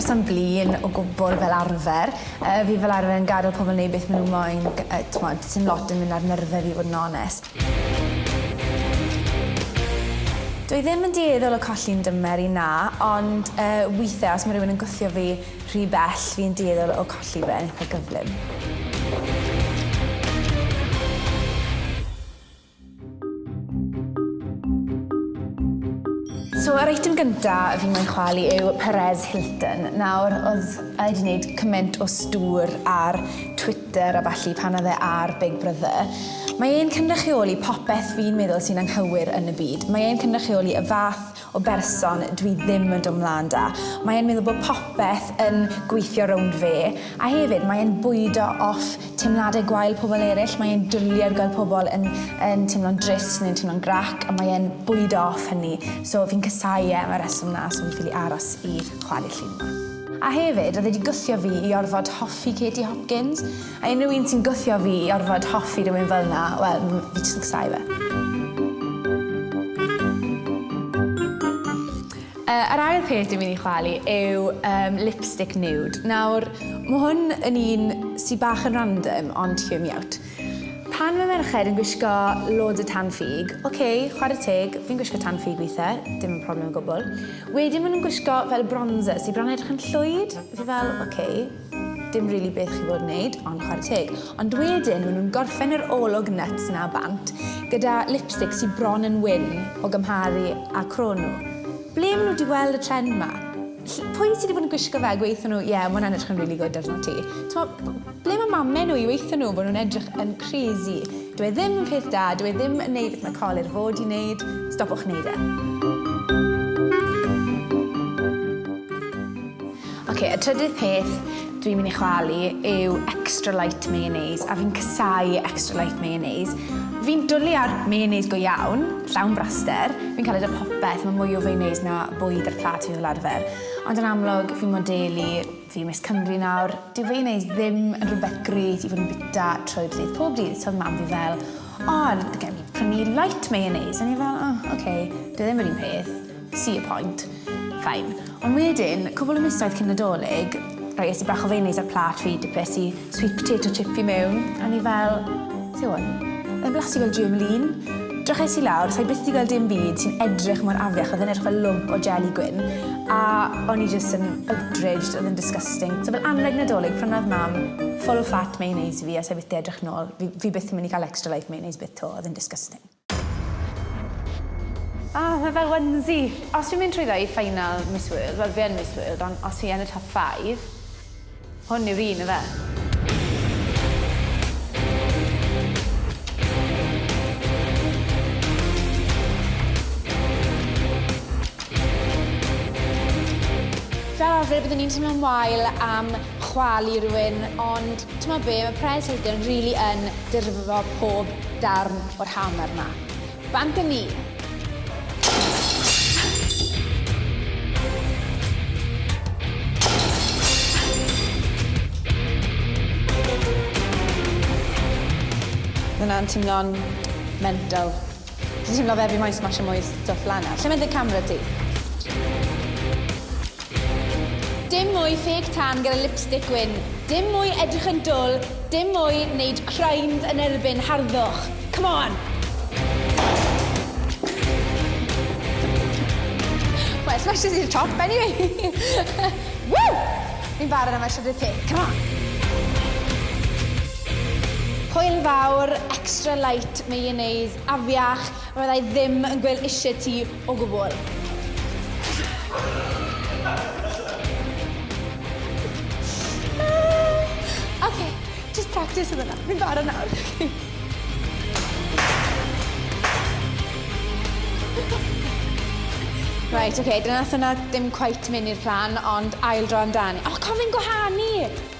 person blin o gwbl fel arfer. Uh, fi fel arfer yn gadael pobl wneud beth maen nhw moyn, uh, t'mod, sy'n lot yn mynd ar nyrfe fi fod yn onest. Dw i ddim yn dueddol o colli'n dymer i, na, ond yy withe os ma' rhywun yn gwthio fi rhy bell fi yn dueddol o colli fe yn eitha gyflym. So yr eitem gynta fi moyn chwalu yw Perez Hilton. Nawr o'dd e 'di neud cyment o stŵr ar Twitter Twitter a ballu pan oedd e ar Big Brother. Mae e'n cynrychioli popeth fi'n meddwl sy'n anghywir yn y byd. Mae e'n cynrychioli y fath o berson dwi ddim yn dod 'mlan 'da. Mae e'n meddwl bod popeth yn gweithio rownd fe. A hefyd, mae e'n bwydo off teimladau gwael pobl eraill. Mae e'n dwli ar gael pobl yn yn teimlo'n drist neu'n teimlo'n grac a mae e'n bwydo off hynny. So fi'n casáu e am y rheswm 'na so fi'n ffili aros i chwalu llun 'ma. A hefyd, oedd e 'di gwthio fi i orfod hoffi Katie Hopkins, a unrhyw un sy'n gwthio fi i orfod hoffi rhywun fel 'na, wel, fi jyst yn casau fe. Yy, yr ail peth dwi'n mynd i chwalu yw, yym, lipstick nude. Nawr, ma' hwn yn un sy bach yn random, ond hear me out. Pan mae merched yn gwisgo loads o tan ffug, ok, chwarae teg, fi'n gwisgo tan ffug weithe, dim yn problem o gwbl. Wedyn ma' nhw'n gwisgo fel bronzer sy' bron yn edrych yn llwyd, fi fel ok, dim rili beth chi fod yn neud, ond chwarae teg. Ond wedyn ma' nhw'n gorffen yr olwg nyts 'na bant gyda lipstick sy' bron yn wyn o gymharu â cro nhw. Ble ma' nhw 'di gweld y trend 'ma? Ll- pwy sy' 'di bod yn gwisgo fe a gweutho nhw, ie, ma' hwnna'n edrych yn rili gwd arnot ti? T'mo'? Ble mae mamen nhw i weithio nhw fod nhw'n edrych yn crazy. Dyw e ddim yn peth da, dyw e ddim yn neud beth mae colur fod i neud, stopwch neud e. Ok, y trydydd peth dwi'n mynd i chwalu yw extra light mayonnaise, a fi'n casau extra light mayonnaise. Fi'n dwlu ar mayonnaise go iawn, llawn braster, fi'n cael e da popeth, mae mwy o mayonnaise na bwyd ar plat fi fel arfer, ond yn amlwg fi'n modelu Fi yn Miss Cymru nawr. Dyw e neu ddim yn rhywbeth gret i fod yn bwyta trwy'r dydd pob dydd, so oedd mam fi fel, O, gawn ni prynu light mayonnaise? O'n i fel, O, ok, dyw e ddim yr un peth, see your point. Fine. Ond wedyn, cwbl o misoedd cyn Nadolig, rhoi es i bach o fayonaise ar plât fi, dipres i Sweet potato chips i mewn, a o'n i fel, beth yw hwn? Mae'n blasu fel germaline. Dryches i lawr, sa'i byth 'di gweld dim byd sy'n edrych mor afiach, oedd e'n edrych fel lwmp o jeli gwyn, a o'n i jyst yn outraged, oedd e'n disgusting. So fel anrheg Nadolig, prynodd Mam full fat mayonnaise i fi, a sa'i byth 'di edrych nôl, fi fi byth yn mynd i cael extra life mayonnaise byth 'to, oedd e'n disgusting. Ah, mae fel onesie. Os fi'n mynd trwyddo i final Miss World, wel fi yn Miss World, ond os fi yn y top five, hwn yw'r un, ife? Fel arfer byddwn i'n teimlo'n wael am chwalu rhywun, ond T'mod be, mae Pres Heidian rili yn dirfo pob darn o'r hamer 'ma. Bant â ni! Mae hwnna'n timlo'n mental. Dwi'n teimlo fe fi moyn smasho mwy stwff lan nawr. Lle mae dy camera di? Dim mwy ffêc tan gyda lipstick gwyn, dim mwy edrych yn dwl, dim mwy neud crimes yn erbyn harddwch. Come on! Well, smashes i'r top anyway. Woo! Fi'n barod am y trydydd peth, come on! Hwyl fawr, extra light, Mayonnaise afiach, fydda i ddim yn gwel isie ti o gwbl. Ok, jyst practis am hwnna. Fi'n barod nawr. Reit, ok, dyna nath hwnna ddim cweit myn i'r plan ond ail dro amdani. O, cofio'n gwahanu!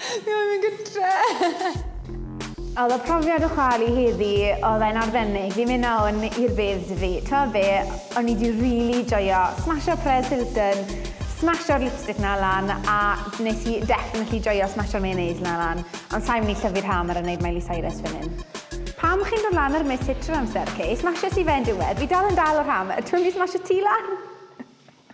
Fi moyn mynd gytre! Oedd y profiad o chwalu heddi, oedd e'n arbennig. Fi'n mynd nawr i'r bedd dw i. T'mod be'? O'n i 'di rili joio smasho Perez Hilton, smasho'r lipstick 'na lan, a nes i definitely joio smasho'r mayonnaise 'na lan. Ond sai'n myn' i llyfu'r hammer a neud Miley Cyrus fyn 'yn. Pam chi'n dod lan ar Miss Hitcher amser, Kay? Smashes ti fe yn diwedd. Fi dal yn dal o'r ham. A dw i myn' i smasho ti lan!